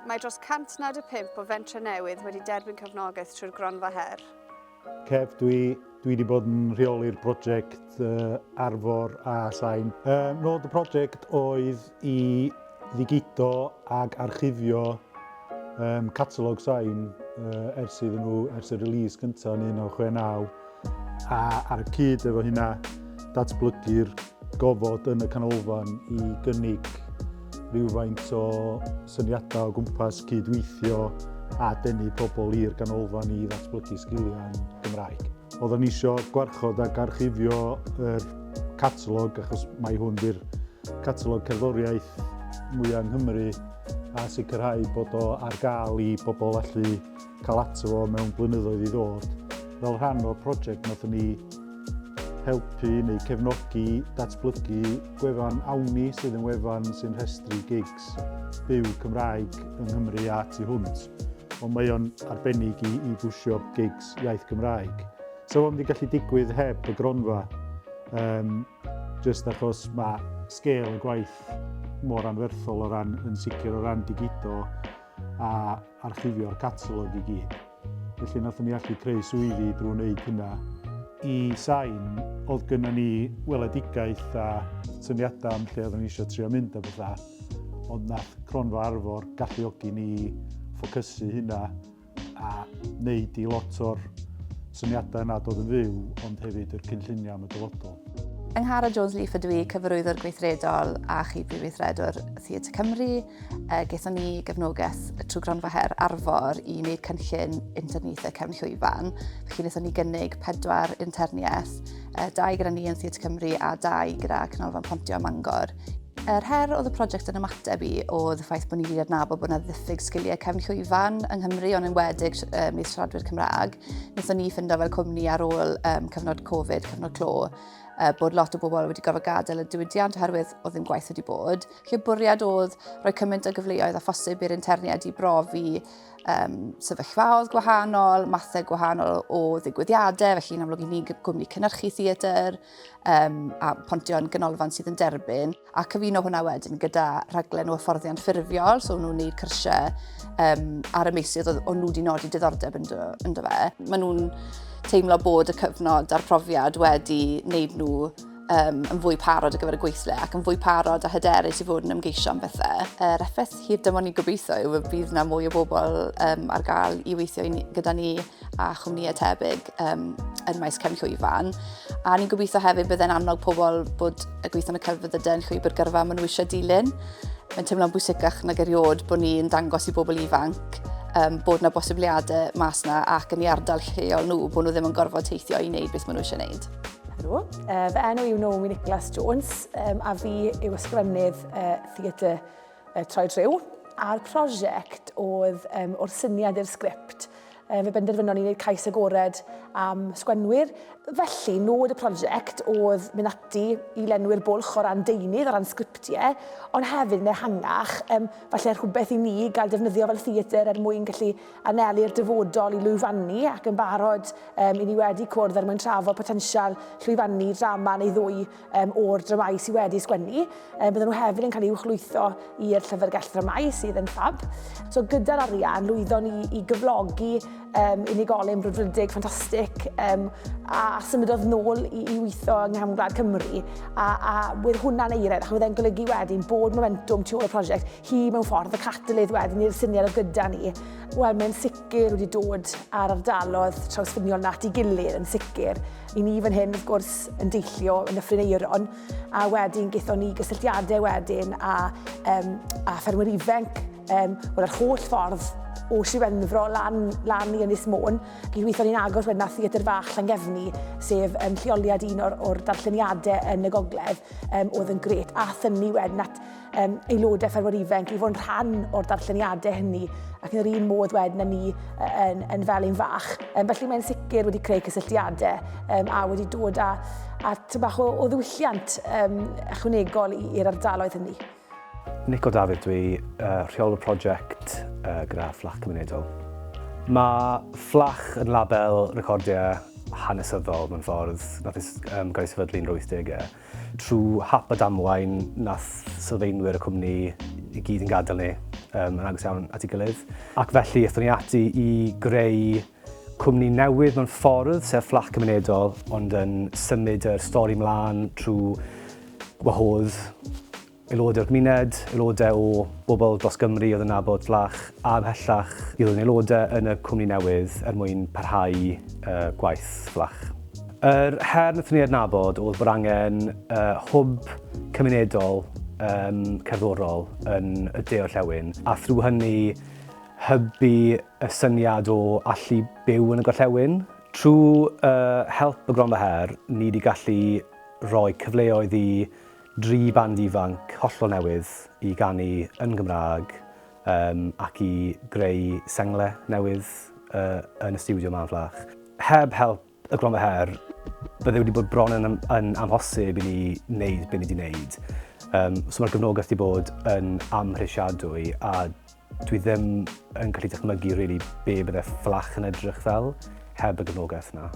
Mae dros 195 o fentrau newydd wedi derbyn cefnogaeth trwy'r Gronfa Her. Cef, dwi, dwi wedi bod yn rheoli'r prosiect uh, Arfor a Sain. Uh, nod y prosiect oedd i ddigido ag archifio um, catalog Sain uh, ers iddyn nhw, ers y release gyntaf yn 1969. a ar y cyd efo hynna, datblygu'r gofod yn y canolfan i gynnig rhywfaint o syniadau o gwmpas cydweithio a denu pobl i'r ganolfan i ddatblygu sgiliau'n Gymraeg. Oedden ni isio gwarchod ac archifio yr catalog achos mae hwn di'r catalog cerddoriaeth mwyaf yng Nghymru a sicrhau bod o ar gael i bobl allu cael ato fo mewn blynyddoedd i ddod fel rhan o'r prosiect nath ni helpu neu cefnogi datblygu gwefan Awni sydd yn wefan sy'n rhestru gigs byw Cymraeg yng Nghymru a tu hwnt. Ond mae o'n arbennig i, i bwysio gigs iaith Gymraeg. So fo'n wedi gallu digwydd heb y gronfa, um, just achos mae sgêl y gwaith mor anferthol o ran yn sicr o ran digido a archifio'r catalog i gyd. Felly nathon ni allu creu swyddi drwy wneud hynna. I sain, oedd gynna ni weledigaeth a syniadau am lle oeddwn ni eisiau trio mynd a bethau, ond nath Cronfa Arfor galluogi ni ffocysu hynna a wneud i lot o'r syniadau yna dod yn fyw, ond hefyd yr cynlluniau am y dyfodol. Yng Nghara Jones Leaf ydw i, cyfarwyddwr gweithredol a chi prifweithredwr Theatr Cymru. Uh, Gaethon ni gefnogaeth trwy Gronfa Her Arfor i wneud cynllun interniaethau cefn llwyfan. Felly wnaethon ni gynnig pedwar interniaeth, uh, dau gyda ni yn Theatr Cymru a dau gyda Canolfan Pontio a Mangor. Yr her oedd y prosiect yn ymateb i oedd y ffaith bod ni wedi adnabod bod yna ddiffyg sgiliau cefn llwyfan yng Nghymru ond yn wedig um, i'r siaradwyr Cymraeg. Nethon ni ffindo fel cwmni ar ôl um, cyfnod Covid, cyfnod clo, uh, bod lot o bobl wedi gorfod gadael y diwydiant oherwydd oedd ddim gwaith wedi bod. Felly y bwriad oedd rhoi cymaint o gyfleoedd a phosib i'r interniaid i brofi um, sefyllfaoedd gwahanol, mathau gwahanol o ddigwyddiadau, felly yn amlwg i ni gwmni cynnyrchu theatr um, a pontion ganolfan sydd yn derbyn, a cyfuno hwnna wedyn gyda rhaglen o hyfforddiant ffurfiol, so nhw'n gwneud cyrsiau um, ar y meisydd o'n nhw wedi nodi diddordeb ynddo, ynddo fe. Maen nhw'n teimlo bod y cyfnod a'r profiad wedi wneud nhw um, yn fwy parod ar gyfer y gweithle ac yn fwy parod a hyderus i fod yn ymgeisio am bethau. Er uh, effaith hir dymor ni gobeithio yw y bydd yna mwy o bobl um, ar gael i weithio ni, gyda ni a chwmnïau tebyg um, yn maes cefn llwyfan. A ni'n gobeithio hefyd bydd e'n annog pobl bod y gweithio yn y celfyddydau yn llwybr gyrfa maen nhw eisiau dilyn. Mae'n teimlo'n bwysicach nag erioed bod ni'n dangos i bobl ifanc um, bod yna bosibiliadau mas yna ac yn ei ardal lleol nhw, bod nhw ddim yn gorfod teithio i wneud beth maen nhw eisiau wneud. Helo, uh, fy enw yw Naomi Nicholas Jones um, a fi yw ysgrifennydd uh, theatr uh, Troed Rhyw. A'r prosiect oedd um, o'r syniad i'r sgript. Um, fe benderfynon ni wneud cais agored am sgwenwyr. Felly, nod y prosiect oedd mynd ati i lenwi'r bwlch o ran deunydd, o ran sgriptiau, ond hefyd yn ehangach, um, falle rhywbeth i ni gael defnyddio fel theatr er mwyn gallu anelu'r dyfodol i lwyfannu ac yn barod um, i ni wedi cwrdd er mwyn trafod potensial llwyfannu drama neu ddwy um, o'r dramau sydd wedi sgwennu. Um, bydden nhw hefyd yn cael ei uchlwytho i'r llyfrgell dramau sydd yn ffab. So gyda'r arian, lwyddo ni i gyflogi um, unigolyn brwdfrydig ffantastig um, a, a symudodd nôl i, i weithio yng Nghefn Gwlad Cymru a, a wedd hwnna'n eiredd ac wedd e'n golygu wedyn bod momentum tu ôl y prosiect hi mewn ffordd, y catalydd wedyn i'r syniad oedd gyda ni. Wel, mae'n sicr wedi dod ar ardalodd trawsffiniol nat i gilydd yn sicr. I ni fan hyn, wrth gwrs, yn deillio yn y Ffrineiron, a wedyn gaethon ni gysylltiadau wedyn a, um, a ffermwyr ifanc, um, wel, yr holl ffordd o Siwenfro lan, lan i Ynys Môn. Gyd weithio ni'n agos wedyn a Theatr Fach Llangefni, sef um, lleoliad un o'r, or darlleniadau yn y gogledd, um, oedd yn gret. A thynnu wedyn at um, aelodau ffermwyr ifanc i fod yn rhan o'r darlleniadau hynny ac yn yr un modd wedyn yn ni yn, yn fel ein fach. Um, felly mae'n sicr wedi creu cysylltiadau um, a wedi dod â, â bach o, o ddiwylliant um, ychwanegol i'r ardaloedd hynny. Nico Dafydd, dwi uh, rheolwr prosiect uh, gyda Fflach Cymunedol. Mae Fflach yn label recordiau hanesyddol mewn ffordd nath um, gael ei sefydlu'n 80au. Trwy hap a damwain, nath sylfaenwyr y cwmni i gyd yn gadael ni um, yn agos iawn at ei gilydd. Ac felly, ethon ni ati i greu cwmni newydd mewn ffordd, sef fflat cymunedol, ond yn symud yr stori mlaen trwy wahodd aelodau o'r gymuned, aelodau o bobl dros Gymru oedd yn nabod Vlach a ymhellach i ddod yn aelodau yn y cwmni newydd er mwyn parhau gwaith Vlach. Yr her wnaethon ni adnabod oedd bod angen hwb cymunedol cerddorol yn y de orllewin a thrwy hynny hybu y syniad o allu byw yn y gorllewin. Trwy help y Gronfa Her ni wedi gallu rhoi cyfleoedd i Dri band ifanc hollol newydd i ganu yn Gymraeg yym ac i greu sengle newydd yy yn y stiwdio 'ma yn Fflach. Heb help y Gronfa Her bydde wedi bod bron yn yn amhosib i ni wneud be ni 'di wneud yym so ma'r gefnogaeth 'di bod yn amhrisiadwy a dwi ddim yn gallu dychmygu rili be bydde Fflach yn edrych fel heb y gefnogaeth 'na.